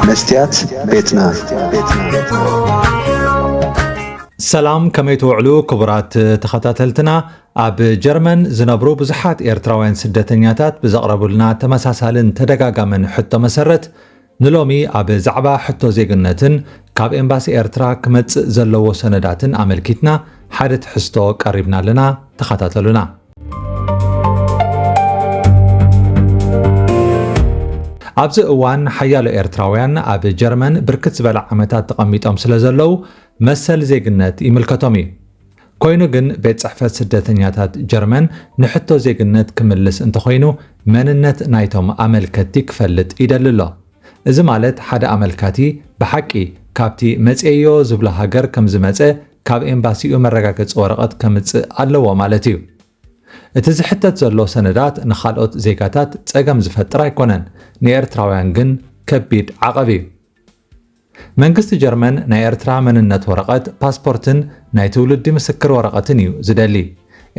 መስትያት ቤትና ሰላም ከመይ ትውዕሉ ክቡራት ተኸታተልትና ኣብ ጀርመን ዝነብሩ ብዙሓት ኤርትራውያን ስደተኛታት ብዘቕረቡልና ተመሳሳልን ተደጋጋምን ሕቶ መሰረት ንሎሚ ኣብ ዛዕባ ሕቶ ዜግነትን ካብ ኤምባሲ ኤርትራ ክመጽእ ዘለዎ ሰነዳትን ኣመልኪትና ሓደ ትሕዝቶ ቀሪብና ኣለና ተኸታተሉና ኣብዚ እዋን ሓያሎ ኤርትራውያን ኣብ ጀርመን ብርክት ዝበለ ዓመታት ተቐሚጦም ስለ ዘለዉ መሰል ዜግነት ይምልከቶም እዩ። ኮይኑ ግን ቤት ጽሕፈት ስደተኛታት ጀርመን ንሕቶ ዜግነት ክምልስ እንተኾይኑ መንነት ናይቶም ኣመልከቲ ክፈልጥ ይደሊ ኣሎ። እዚ ማለት ሓደ ኣመልካቲ ብሓቂ ካብቲ መጽየዮ ዝብሎ ሃገር ከም ዝመጸ ካብ ኤምባሲኡ መረጋገጺ ወረቐት ከምጽእ ኣለዎ ማለት እዩ። እቲ ዝሕተት ዘሎ ሰነዳት ንኻልኦት ዜጋታት ጸገም ዝፈጥር ኣይኮነን፣ ንኤርትራውያን ግን ከቢድ ዓቐብ እዩ። መንግስቲ ጀርመን ናይ ኤርትራ መንነት ወረቐት፣ ፓስፖርትን ናይ ትውልዲ ምስክር ወረቐትን እዩ ዝደሊ።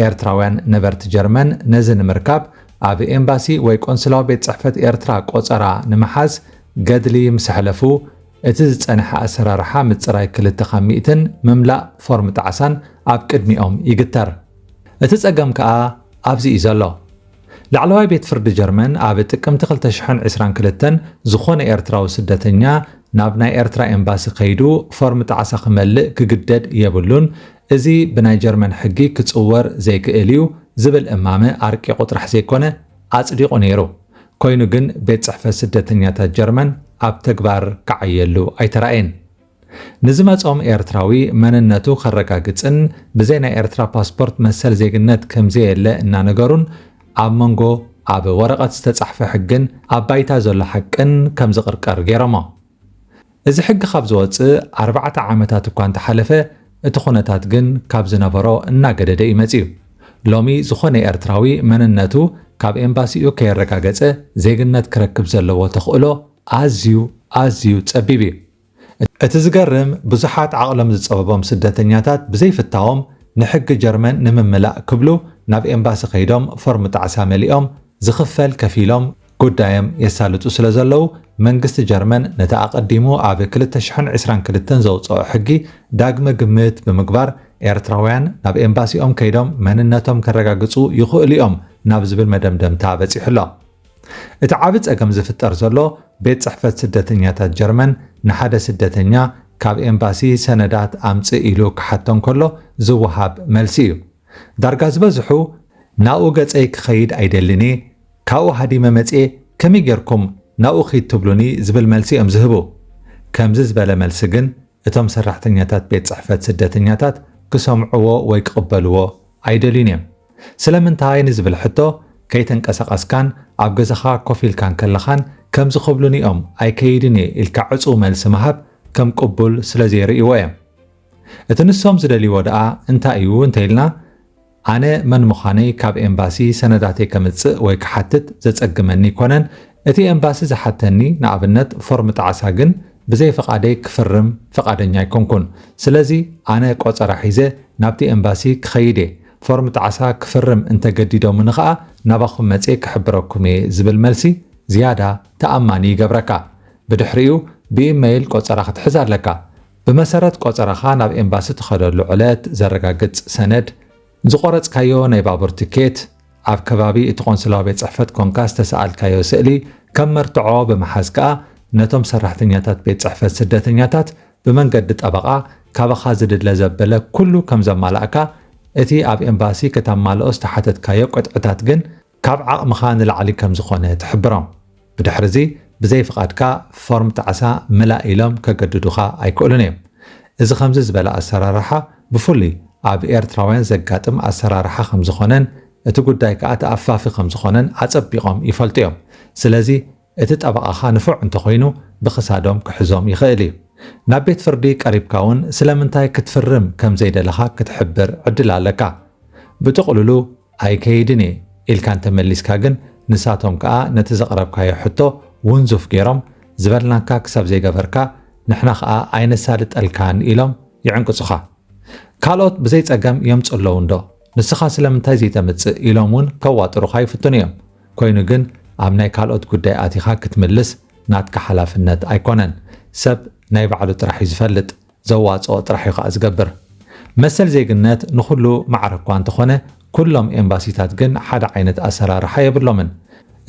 ኤርትራውያን ነበርቲ ጀርመን ነዚ ንምርካብ ኣብ ኤምባሲ ወይ ቆንስላዊ ቤት ጽሕፈት ኤርትራ ቆጸራ ንምሓዝ ገድሊ ምስ ሕለፉ፣ እቲ ዝጸንሐ ኣሰራርሓ ምጽራይ ክልተ ካብ ሚእትን ምምላእ ፎርም ጣዕሳን ኣብ ቅድሚኦም ይግተር። እቲ ጸገም ከኣ ኣብዚ እዩ ዘሎ። ላዕለዋይ ቤት ፍርዲ ጀርመን ኣብ ጥቅምቲ ክልተ ሽሕን ዕስራን ክልተን ዝኾነ ኤርትራዊ ስደተኛ ናብ ናይ ኤርትራ ኤምባሲ ከይዱ ፎርም ጣዕሳ ክመልእ ክግደድ የብሉን፣ እዚ ብናይ ጀርመን ሕጊ ክጽወር ዘይክእል እዩ ዝብል እማመ ኣርቂቑ ጥራሕ ዘይኮነ ኣጽዲቑ ነይሩ። ኮይኑ ግን ቤት ጽሕፈት ስደተኛታት ጀርመን ኣብ ተግባር ክዓየሉ ኣይተራእየን። ንዝመጾም ኤርትራዊ መንነቱ ከረጋግጽን ብዘይ ናይ ኤርትራ ፓስፖርት መሰል ዜግነት ከምዘየለ እናነገሩን ኣብ መንጎ ኣብ ወረቐት ዝተጻሕፈ ሕግን ኣብ ባይታ ዘሎ ሓቅን ከምዝቕርቀር ገይሮሞ። እዚ ሕጊ ካብ ዝወጽእ ኣርባዕተ ዓመታት እኳ እንተሓለፈ፣ እቲ ኩነታት ግን ካብ ዝነበሮ እናገደደ እዩ መጺኡ። ሎሚ ዝኾነ ኤርትራዊ መንነቱ ካብ ኤምባሲኡ ከየረጋገጸ ዜግነት ክረክብ ዘለዎ ተኽእሎ ኣዝዩ ኣዝዩ ጸቢብ እዩ። እቲ ዝገርም ብዙሓት ዓቕሎም ዝጸበቦም ስደተኛታት ብዘይፍታዎም ንሕጊ ጀርመን ንምምላእ ክብሉ ናብ ኤምባሲ ከይዶም ፎርም ጣዕሳ መሊኦም፣ ዝኽፈል ከፊሎም፣ ጉዳዮም የሳልጡ ስለ ዘለዉ፣ መንግስቲ ጀርመን ነቲ ኣቐዲሙ ኣብ ክልተ ሽሕን ዕስራን ክልተን ዘውጸኦ ሕጊ ዳግመ ግምት ብምግባር ኤርትራውያን ናብ ኤምባሲኦም ከይዶም መንነቶም ከረጋግጹ ይኽእሉ'ዮም ናብ ዝብል መደምደምታ በጺሑ'ሎ። እቲ ዓቢ ጸገም ዝፍጠር ዘሎ ቤት ጽሕፈት ስደተኛታት ጀርመን ንሓደ ስደተኛ ካብ ኤምባሲ ሰነዳት ኣምጽእ ኢሉ ክሓቶ እንከሎ ዝወሃብ መልሲ እዩ። ዳርጋ ዝበዝሑ ናብኡ ገጸይ ክኸይድ ኣይደልን'የ፣ ካብኡ ሃዲመ መጺኤ ከመይ ጌርኩም ናብኡ ኪድ ትብሉኒ ዝብል መልሲ'ዮም ዝህቡ። ከምዚ ዝበለ መልሲ ግን እቶም ሰራሕተኛታት ቤት ጽሕፈት ስደተኛታት ክሰምዕዎ ወይ ክቕበልዎ ኣይደልዩን'ዮም። ስለምንታይ ንዝብል ሕቶ ከይተንቀሳቐስካን ኣብ ገዛኻ ኮፍ ኢልካን ከለኻን ከምዚ ክብሉኒ'ዮም ኣይከይድን'የ ኢልካ ዕጹው መልሲ ምሃብ ከም ቅቡል ስለዘይርእይዎ'ዮም። እቲ ንሶም ዝደልይዎ ደኣ እንታይ እዩ እንተኢልና፣ ኣነ መን ምዃነይ ካብ ኤምባሲ ሰነዳተይ ከምጽእ ወይ ክሓትት ዘጸግመኒ ኣይኮነን። እቲ ኤምባሲ ዝሓተኒ፣ ንኣብነት ፎርም ጣዕሳ ግን ብዘይ ፍቓደይ ክፍርም ፍቓደኛ ኣይኮንኩን። ስለዚ ኣነ ቆጸራ ሒዘ ናብቲ ኤምባሲ ክኸይድ እየ። ፎርም ጣዕሳ ክፍርም እንተገዲዶምኒ ከኣ ናባኹም መጽየ ክሕብረኩም እየ ዝብል መልሲ ዝያዳ ተኣማኒ ይገብረካ። ብድሕሪኡ ብኢመይል ቆጸራ ክትሕዝ ኣለካ። ብመሰረት ቆጸራኻ ናብ ኤምባሲ ትኸደሉ ዕለት ዘረጋግጽ ሰነድ፣ ዝቖረጽካዮ ናይ ባቡር ትኬት፣ ኣብ ከባቢ እቲ ቆንስላዊ ቤት ጽሕፈት ኮንካ ዝተሰኣልካዮ ስእሊ ከም መርትዖ ብምሓዝ ከኣ ነቶም ሰራሕተኛታት ቤት ጽሕፈት ስደተኛታት ብመንገዲ ጠበቓ ካባኻ ዝድለ ዘበለ ኩሉ ከም ዘማላእካ እቲ ኣብ ኤምባሲ ከተማልኦ ዝተሓተትካዮ ቅጥዕታት ግን ካብ ዓቕምኻ ንላዕሊ ከም ዝኾነ ትሕብሮም። ብድሕርዚ ብዘይ ፍቓድካ ፎርም ጣዕሳ ምላእ ኢሎም ከገድዱኻ ኣይክእሉን እዮም። እዚ ከምዚ ዝበለ ኣሰራርሓ ብፍሉይ ኣብ ኤርትራውያን ዘጋጥም ኣሰራርሓ ከም ዝኾነን እቲ ጉዳይ ከኣ ተኣፋፊ ከም ዝኾነን ኣጸቢቖም ይፈልጡ እዮም። ስለዚ እቲ ጠበቓኻ ንፉዕ እንተኾይኑ ብኽሳዶም ክሕዞም ይኽእል እዩ። ናብ ቤት ፍርዲ ቀሪብካ እውን ስለምንታይ ክትፍርም ከም ዘይደለኻ ክትሕብር ዕድል ኣለካ። ብጥቕሉሉ ኣይከይድን እየ ኢልካ እንተመሊስካ ግን ንሳቶም ከኣ ነቲ ዘቕረብካዮ ሕቶ ውንዙፍ ገይሮም ዝበልናካ ክሳብ ዘይገበርካ ንሕና ከኣ ኣይነሳልጠልካን ኢሎም ይዕንቅጹኻ። ካልኦት ብዘይጸገም የምጹ ኣለዉ እንዶ ንስኻ ስለምንታይ ዘይተምጽእ ኢሎም እውን ከዋጥሩኻ ይፍትኑ እዮም። ኮይኑ ግን ኣብ ናይ ካልኦት ጉዳይ ኣቲኻ ክትምልስ ናትካ ሓላፍነት ኣይኮነን። ሰብ ናይ ባዕሉ ጥራሕ እዩ ዝፈልጥ፣ ዘዋጽኦ ጥራሕ እዩ ከኣ ዝገብር። መሰል ዜግነት ንኹሉ ማዕረ እኳ እንተኾነ ኩሎም ኤምባሲታት ግን ሓደ ዓይነት ኣሰራርሓ የብሎምን።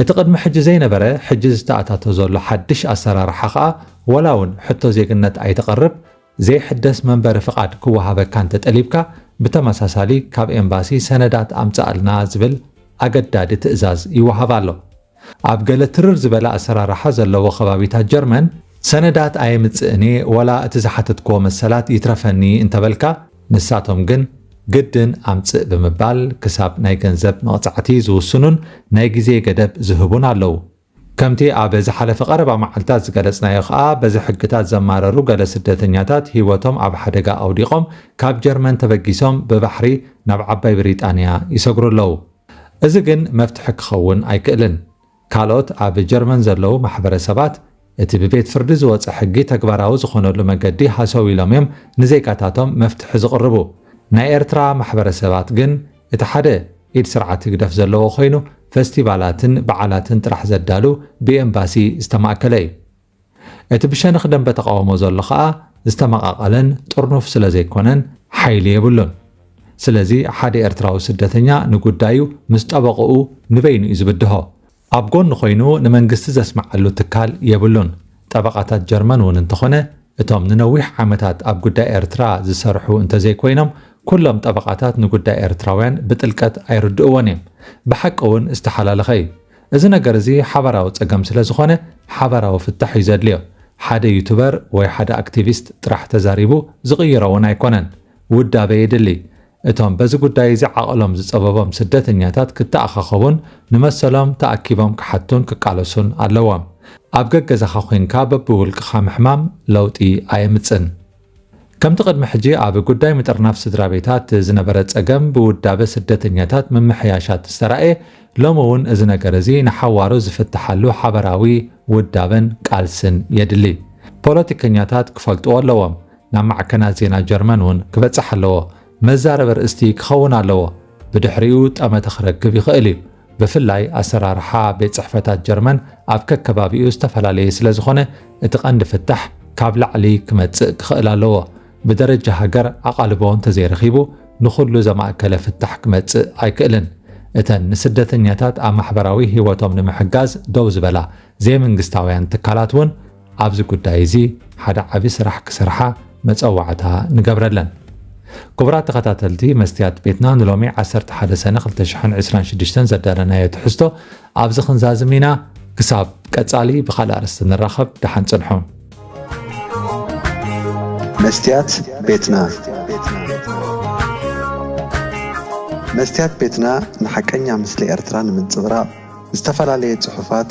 እቲ ቅድሚ ሕጂ ዘይነበረ ሕጂ ዝተኣታቶ ዘሎ ሓድሽ ኣሰራርሓ ከኣ ወላ ውን ሕቶ ዜግነት ኣይተቕርብ ዘይሕደስ መንበሪ ፍቓድ ክወሃበካ እንተጠሊብካ ብተመሳሳሊ ካብ ኤምባሲ ሰነዳት ኣምጽኣልና ዝብል ኣገዳዲ ትእዛዝ ይወሃብ ኣሎ። ኣብ ገለ ትርር ዝበለ ኣሰራርሓ ዘለዎ ከባቢታት ጀርመን ሰነዳት ኣየምጽእን'የ ወላ እቲ ዝሓተትክዎ መሰላት ይትረፈኒ እንተበልካ ንሳቶም ግን ግድን ኣምጽእ ብምባል ክሳብ ናይ ገንዘብ መቕጻዕቲ ዝውስኑን ናይ ግዜ ገደብ ዝህቡን ኣለዉ። ከምቲ ኣብ ዝሓለፈ ቀረባ መዓልታት ዝገለጽናዮ ከኣ በዚ ሕግታት ዘማረሩ ገለ ስደተኛታት ህይወቶም ኣብ ሓደጋ ኣውዲቖም ካብ ጀርመን ተበጊሶም ብባሕሪ ናብ ዓባይ ብሪጣንያ ይሰግሩ ኣለዉ። እዚ ግን መፍትሒ ክኸውን ኣይክእልን። ካልኦት ኣብ ጀርመን ዘለዉ ማሕበረሰባት እቲ ብቤት ፍርዲ ዝወጸ ሕጊ ተግባራዊ ዝኾነሉ መገዲ ሃሰው ኢሎም እዮም ንዜጋታቶም መፍትሒ ዝቕርቡ። ናይ ኤርትራ ማሕበረሰባት ግን እቲ ሓደ ኢድ ስርዓት ህግደፍ ዘለዎ ኮይኑ ፈስቲቫላትን በዓላትን ጥራሕ ዘዳሉ ብኤምባሲ ዝተማእከለ እዩ። እቲ ብሸነኽ ደንበ ተቓውሞ ዘሎ ከኣ ዝተመቓቐለን ጥርኑፍ ስለ ዘይኮነን ሓይሊ የብሉን። ስለዚ ሓደ ኤርትራዊ ስደተኛ ንጉዳዩ ምስ ጠበቕኡ ንበይኑ እዩ ዝብድሆ። ኣብ ጎኑ ኮይኑ ንመንግስቲ ዘስምዓሉ ትካል የብሉን። ጠበቓታት ጀርመን እውን እንተኾነ እቶም ንነዊሕ ዓመታት ኣብ ጉዳይ ኤርትራ ዝሰርሑ እንተዘይኮይኖም ኩሎም ጠበቓታት ንጉዳይ ኤርትራውያን ብጥልቀት ኣይርድእዎን እዮም። ብሓቂ እውን ዝተሓላለኸ እዩ። እዚ ነገር እዚ ሓባራዊ ጸገም ስለዝኾነ ሓባራዊ ፍታሕ እዩ ዘድልዮ። ሓደ ዩቱበር ወይ ሓደ ኣክቲቪስት ጥራሕ ተዛሪቡ ዝቕይሮ እውን ኣይኮነን። ውዳበ የድሊ። እቶም በዚ ጉዳይ እዚ ዓቕሎም ዝጸበቦም ስደተኛታት ክተኣኻኸቡን ንመሰሎም ተኣኪቦም ክሓቱን ክቃለሱን ኣለዎም። ኣብ ገገዛኻ ኮይንካ በብውልቅኻ ምሕማም ለውጢ ኣየምጽን። ከምቲ ቅድሚ ሕጂ ኣብ ጉዳይ ምጥርናፍ ስድራቤታት ዝነበረ ጸገም ብውዳበ ስደተኛታት ምምሕያሻት ዝተራእየ፣ ሎሚ እውን እዚ ነገር እዚ ንሓዋሩ ዝፍትሓሉ ሓበራዊ ውዳበን ቃልስን የድሊ። ፖለቲከኛታት ክፈልጥዎ ኣለዎም። ናብ ማዕከናት ዜና ጀርመን እውን ክበጽሕ ኣለዎ። መዛረቢ ኣርእስቲ ክኸውን ኣለዎ፣ ብድሕሪኡ ጠመተ ክረክብ ይኽእል እዩ። ብፍላይ ኣሰራርሓ ቤት ጽሕፈታት ጀርመን ኣብ ከከባቢኡ ዝተፈላለየ ስለ ዝኾነ እቲ ቀንዲ ፍታሕ ካብ ላዕሊ ክመጽእ ክኽእል ኣለዎ። ብደረጃ ሃገር ኣቓልቦ እንተዘይረኺቡ ንኹሉ ዘማእከለ ፍታሕ ክመጽእ ኣይክእልን። እተን ንስደተኛታት ኣብ ማሕበራዊ ህይወቶም ንምሕጋዝ ደው ዝበላ ዘይመንግስታውያን ትካላት እውን ኣብዚ ጉዳይ እዚ ሓደ ዓቢ ስራሕ ክሰርሓ መጸዋዕታ ንገብረለን። ክቡራት ተኸታተልቲ መስትያት ቤትና ንሎሚ ዓሰርተ ሓደ ሰነ ክልተ ሽሕን ዕስራን ሽዱሽተን ዘዳለናዮ ትሕዝቶ ኣብዚ ክንዛዝም ኢና። ክሳብ ቀጻሊ ብኻልእ ኣርእስቲ ንራኸብ ደሓን ጽንሑ። መስትያት ቤትና መስትያት ቤትና ንሓቀኛ ምስሊ ኤርትራ ንምንጽብራቕ ዝተፈላለየ ጽሑፋት